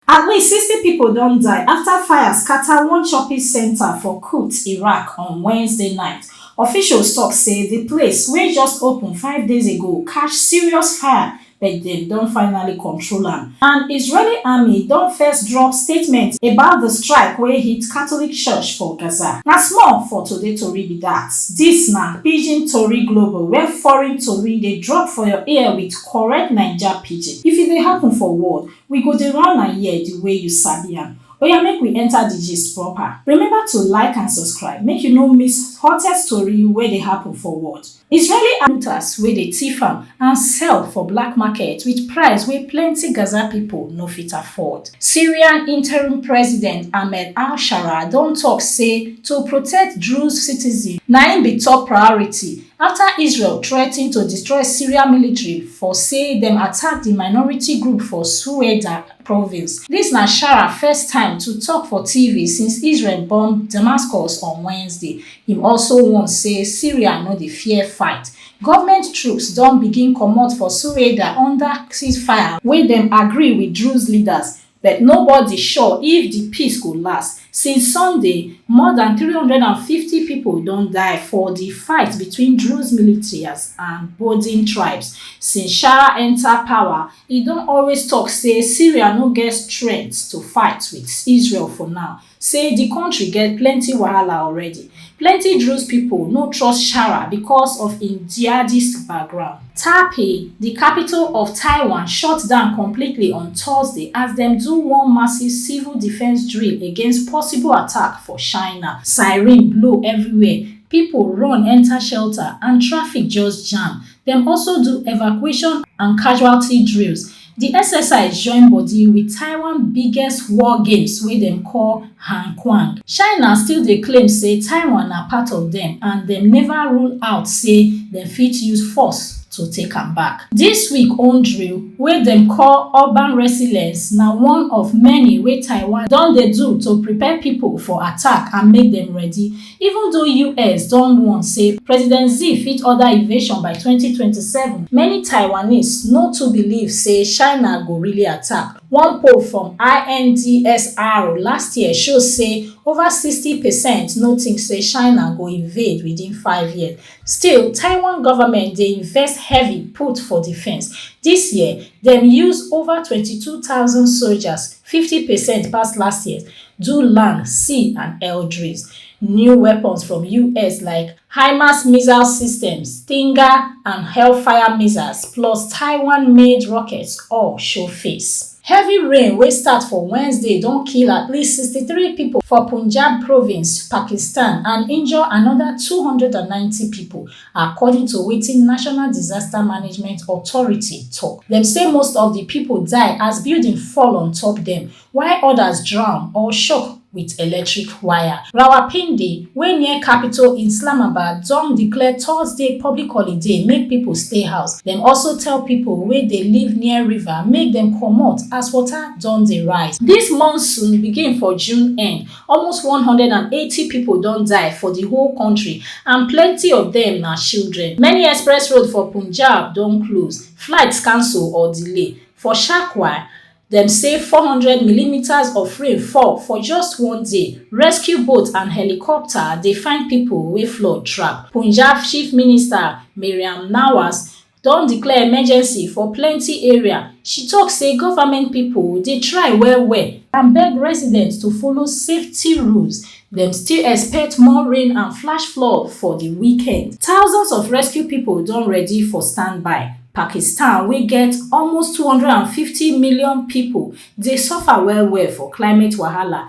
At least sixty pipo don die afta fire scata one shopping centre for Kut, Iraq on Wednesday night. Officials tok say di place, wey just open five days ago, catch serious fire but dem don finally control am, and Israeli army don first drop statement about di strike wey hit Catholic church for Gaza. Na small for today tori be dat. Dis na Pidgin Tori Global, where foreign tori dey drop for your ear with correct Naija Pidgin. If e dey happen for world, We go dey run am here the way you sabi am. Oya make we enter the gist proper. Remember to like and subscribe make you no miss hottest tori wey dey happen for world. Israeli army fighters wey dey thief am and sell for black market with price wey plenty Gaza pipo no fit afford. Syrian interim president Ahmed al-Sharaa don talk say to protect Druze citizens na im be top priority afta israel threaten to destroy syria military for say dem attack di minority group for soueda province dis na shara first time to tok for tv since israel bomb damascus on wednesday im also warn say syria no dey fear fight goment troops don begin comot for soueda under ceasefire wey dem agree wit druze leaders But nobody sure if di peace go last, since Sunday, more dan three hundred and fifty pipo don die for di fight between Druze militias and Boudin tribes. Since Shara enta power, e don always tok say Syria no get strength to fight wit Israel for now, say di kontri get plenty wahala already, plenty Druze pipo no trust Shara becos of im jihadist background. Taipei, di capital of Taiwan, shut down completely on Thursday as dem do one massive civil defence drill against possible attack for China. Siren blow everywhere, pipo run enta shelter and traffic just jam. Dem also do evacuation and casualty drills. Di exercise join bodi wit Taiwan biggest war games wey dem call Hankuang. China still dey claim say Taiwan na part of dem and dem neva rule out say dem fit use force to take am back. Dis week own drill, wey dem call Urban Resilience, na one of many wey Taiwan don dey do to prepare pipo for attack and make dem ready. Even though us don warn say President Xi fit order invasion by twenty twenty seven, many Taiwanese no too believe say China go really attack. One poll from INDSR last year show say over sixty percent no think say China go invade within five years. Still, Taiwan government dey invest heavy put for defence. Dis year, dem use over twenty two thousand soldiers 50 percent pass last year do land sea and air drills new weapons from us like himas missile systems stinger and hellfire missiles plus taiwan made rockets all show face Heavy rain wey start for Wednesday don kill at least 63 pipo for Punjab province, Pakistan and injure anoda 290 pipo According to wetin National Disaster Management Authority tok, dem say most of di pipo die as building fall on top dem, while odas drown or shock wit electric wire. Rawalpindi, wey near capital Islamabad, don declare Thursday public holiday make pipo stay house. Dem also tell pipo wey dey live near river make dem comot as water don dey rise. Dis monsoon begin for June end, Almost one hundred and eighty pipo don die for di whole kontri and plenty of dem na children. Many express road for Punjab don close, flights cancel or delay. For Shakwa, dem say four hundred millimetres of rain fall for just one day. Rescue boat and helicopter dey find pipo wey flood trap. Punjab Chief Minister Mariam Nawaz don declare emergency for plenty area. She tok say government pipo dey try well well and beg residents to follow safety rules, dem still expect more rain and flash flood for di weekend. Thousands of rescue pipo don ready for standby. Pakistan wey get almost two hundred and fifty million pipo dey suffer well well for climate wahala,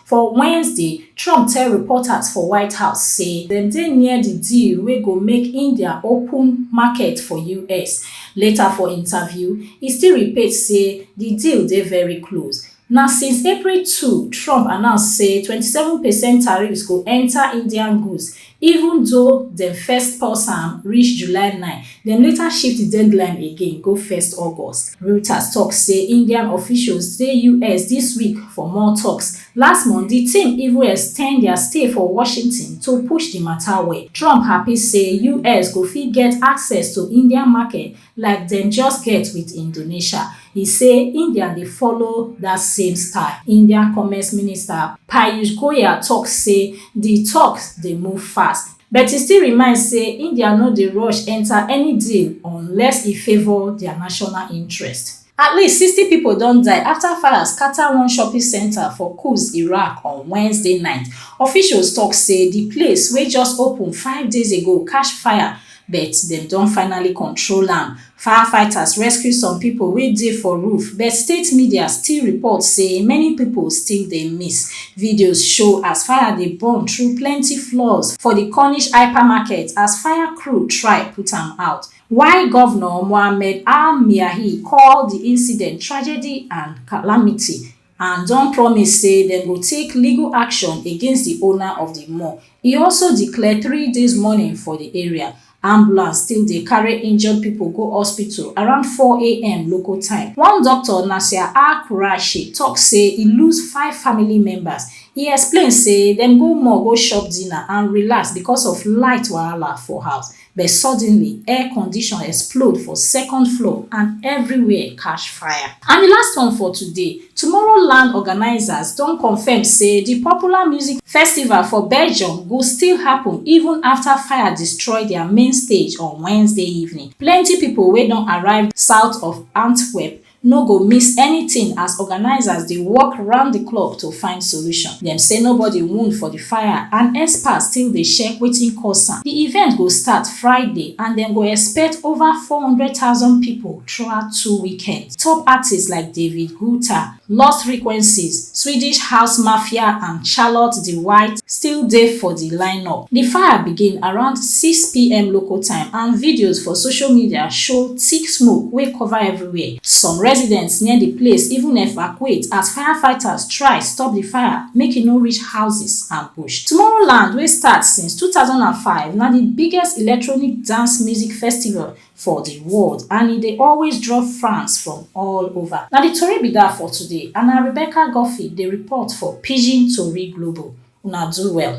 For Wednesday, Trump tell reporters for White House say dem dey near di deal wey go make India open market for us. Later for interview, e still repeat say di deal dey very close. Na since April two Trump announce say twenty seven percent tariffs go enta Indian goods Even though dem first pause am reach July nine, dem later shift di deadline again go first August. Reuters tok say Indian officials dey US dis week for more toks. Last month, di team even ex ten d dia stay for Washington to push di mata well. Trump happy say US go fit get access to Indian market like dem just get wit Indonesia, e say India dey follow dat same style. India Commerce Minister Piyush Goyal tok say di toks dey move fast, but e still remind say India no dey rush enta any deal unless e favour dia national interest. At least sixty pipo don die afta fire scata one shopping centre for Quds, Iraq on Wednesday night. Officials tok say di place, wey just open five days ago, catch fire but dem don finally control am. Firefighters rescue some pipo wey dey for roof but state media still report say many pipo still dey miss. Videos show as fire dey burn through plenty floors for di Cornish hypermarket as fire crew try put am out. While Govnor Mohammed Al-Miahi call di incident tragedy and calamity and don promise say dem go take legal action against di owner of di mall, e also declare three days mourning for di area. Ambulance still dey carry injured pipo go hospital around four am local time. One doctor, Nasir Al-Quraishi, tok say e lose five family members. E explain say dem go mall go chop dinner and relax becos of light wahala for house. But suddenly, air condition explode for second floor and everywhere catch fire. And di last one for today, Tomorrowland organisers don confirm say di popular music festival for Belgium go still happun even afta fire destroy dia main stage on Wednesday evening. Plenty pipo wey don arrive south of Antwerp no go miss anytin as organisers dey work round di clock to find solution. Dem say nobody wound for di fire and experts still dey check wetin cause am. Di event go start Friday and dem go expect over four hundred thousand pipo throughout two weekends. Top artists like David Guetta, Lost Frequencies, Swedish house mafia and Charlotte the White, still dey for di lineup. Di fire begin around six pm local time and videos for social media show thick smoke wey cover everywhere. Some residents near di place even evacuate as firefighters try stop di fire make e no reach houses and bush. Tomorrowland, wey start since two thousand and five, na di biggest electronic dance music festival for di world and e dey always draw fans from all ova. Na di tori be dat for today and na Rebecca Guffey dey report for Pidgin Tori Global. Una do well.